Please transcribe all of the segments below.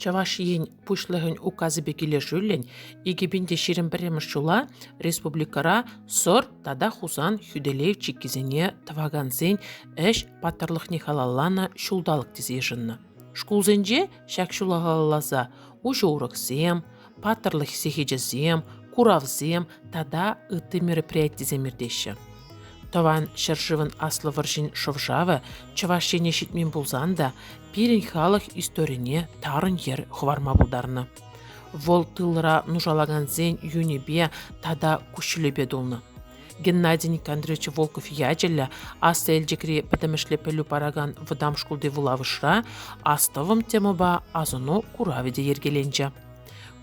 Чӑваш Ен Пуҫлӑхӗн Указӗпе килӗшӳллӗн икӗ пин те ҫирӗм пӗрремӗш ҫула республикӑра Сор тата Хусан хӳтӗлев чиккисене тӑвакансен ӗҫ паттӑрлӑхне халалланӑ ҫулталӑк тесе йышӑннӑ. Шкулсенче ҫак ҫула халалласа уҫӑ уроксем, паттӑрлӑх сехечӗсем, куравсем тата ытти мероприятисем иртеҫҫӗ. Тӑван ҫӗршывӑн Аслӑ вӑрҫин шӑв-шавӗ Чӑваш Ене ҫитмен пулсан та пирӗн халӑх историне тарӑн йӗр хӑварма пултарнӑ. Вӑл тылра нушалакансен юнӗпе тата куҫҫулӗпе тулнӑ. Геннадий Никандрович Волков ячӗллӗ Аслӑ Элчӗкри пӗтӗмӗшле пӗлӳ паракан вӑтам шкулти вулавӑшра Астӑвӑм темӑпа асӑну куравӗ те йӗркеленчӗ.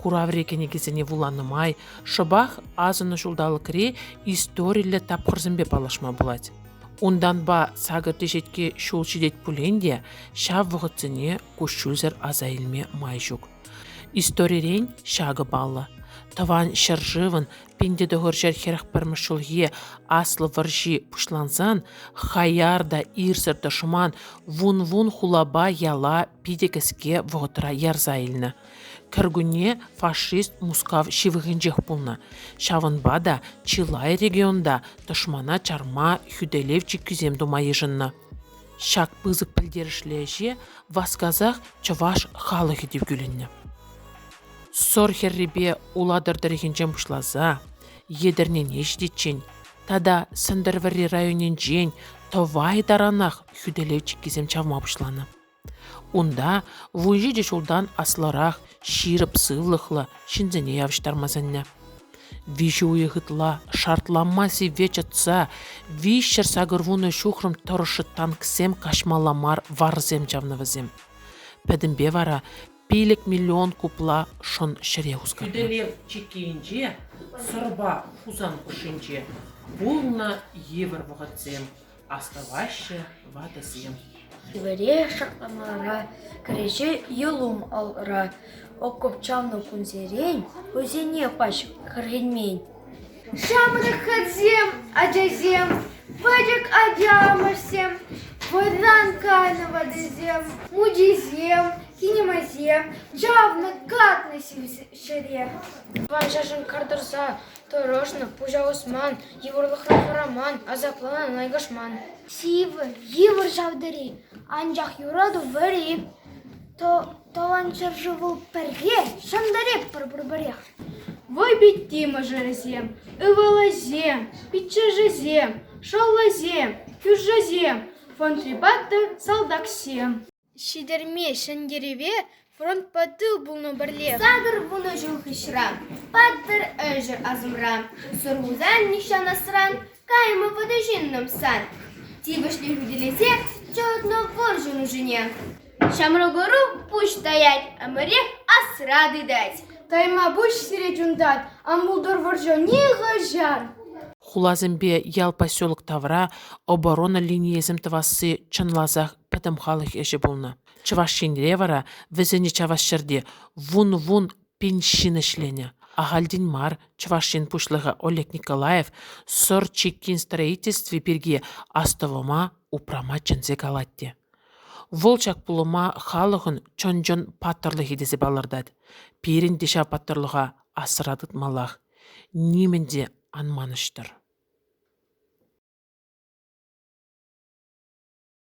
Кураври кӗнекесене вуланӑ май шӑпах асӑннӑ ҫулталӑкри историллӗ тапхӑрсемпе паллашма пулать. Унтанпа сакӑр теҫетке ҫул ҫитет пулин те ҫав вӑхӑтсене куҫҫульсӗр аса илме май ҫук. Историрен ҫакӑ паллӑ. Тӑван ҫӗршывӑн Пин тӑхӑр ҫӗр хӗрӗх пӗрмӗш ҫулхи Аслӑ вӑрҫи пуҫлансан хаяр та ирсӗр тӑшман вун-вун хулапа яла питӗ кӗске вӑхӑтра ярса илнӗ. Кӗркунне фашист Мускав ҫывӑхӗнчех пулнӑ. Ҫавӑнпа та чылай регионта тӑшмана чарма хӳтӗлев чиккисем тума йышӑннӑ. Ҫак пысӑк пӗлтерӗшлӗ ӗҫе васкасах чӑваш халӑхӗ те кӳлӗннӗ. Сор хӗррипе Улатӑр тӑрӑхӗнчен пуҫласа Етӗрнене ҫитиччен тата Сӗнтӗрвӑрри районӗнчен тӑвай таранах хӳтӗлев чиккисем чавма пуҫланӑ. Унта вун ҫичӗ ҫултан аслӑрах ҫирӗп сывлӑхлӑ ҫынсене явӑҫтарма сӗннӗ. Виҫӗ уйӑх ытла шартланма сивве чӑтса виҫҫӗр сакӑрвунӑ ҫухрӑм тӑрӑшшӗ танксем каҫмалла мар варсем чавнӑ вӗсем. Пӗтӗмпе вара пилӗк миллион купла шӑн ҫӗре хусканнӑ. Хӳтӗлев чиккийӗнче Сӑрпа Хусан хушшинче пулнӑ йывӑр вӑхӑтсем, астӑваҫҫӗ ватӑсем. Хӗвеле шакламалла кӗреҫе Йӑлум алӑра окоп чавнӑ кунсерен хӑйсене пач кӗрхенмен. Ҫамрӑксем, ачасем, пӗчӗк аталанмӑшсем, вӑйран кайнӑ ватӑсем, мучисем, кинемасем чавнӑ, катнӑ ҫӗре. Ванҫӑшӑн кар тӑрса тӑрӑшнӑ, пуҫа усман, йывӑрлӑхра хӑраман, асапланан лайкашман. Сивӗ, йывӑр ҫав тери, анчах юрату вӗри. Тӑван ҫӗршыву пӗрре ҫӑнтарӑпӑр пурпӗрех. Вӑйпитти мӑшӑрӗсем, ывӑлӗсем, пиччӗшӗсем, шӑллӗсем, кӳршӗсем, фронтри паттӑр салтаксем. Ҫитерме ҫӗнтерӗве фронтпа тыл пулнӑ пӗрле. Сакӑр вунӑ ҫул хыҫра паттӑр ӗҫӗр асӑмра. Сурхусан нихҫан асран, каймӑ вӑтӑ ҫыннӑм сан. Тивӗҫлӗн хӳтӗлесе чӑтнӑ вӑр ҫунӑшӗне. Ҫамрӑк ӑру пуҫ таять, ӗмӗрех асра тытать. Тайма пуҫ сире чунтать, ан пултӑр вӑрҫӑ нихӑҫан. Хуласемпе ял поселок тавра оборона линийӗсем тӑвасси чӑнласах пӗтӗм халӑх ӗҫӗ пулнӑ. Чӑваш Енре вара вӗсене чавас ҫӗрте вун-вун пин ҫын ӗҫленӗ. Ахальтен мар Чӑваш Ен Пуҫлӑхӗ Олег Николаев Сӑр чиккин строительстви пирки астӑвӑма упрама чӗнсе калать те. Вӑл ҫак пулӑма халӑхӑн чӑн-чӑн паттӑрлӑхӗ тесе палӑртать. Пирӗн те ҫав паттӑрлӑха асра тытмаллах. Нимӗн те ан манӑҫтӑр.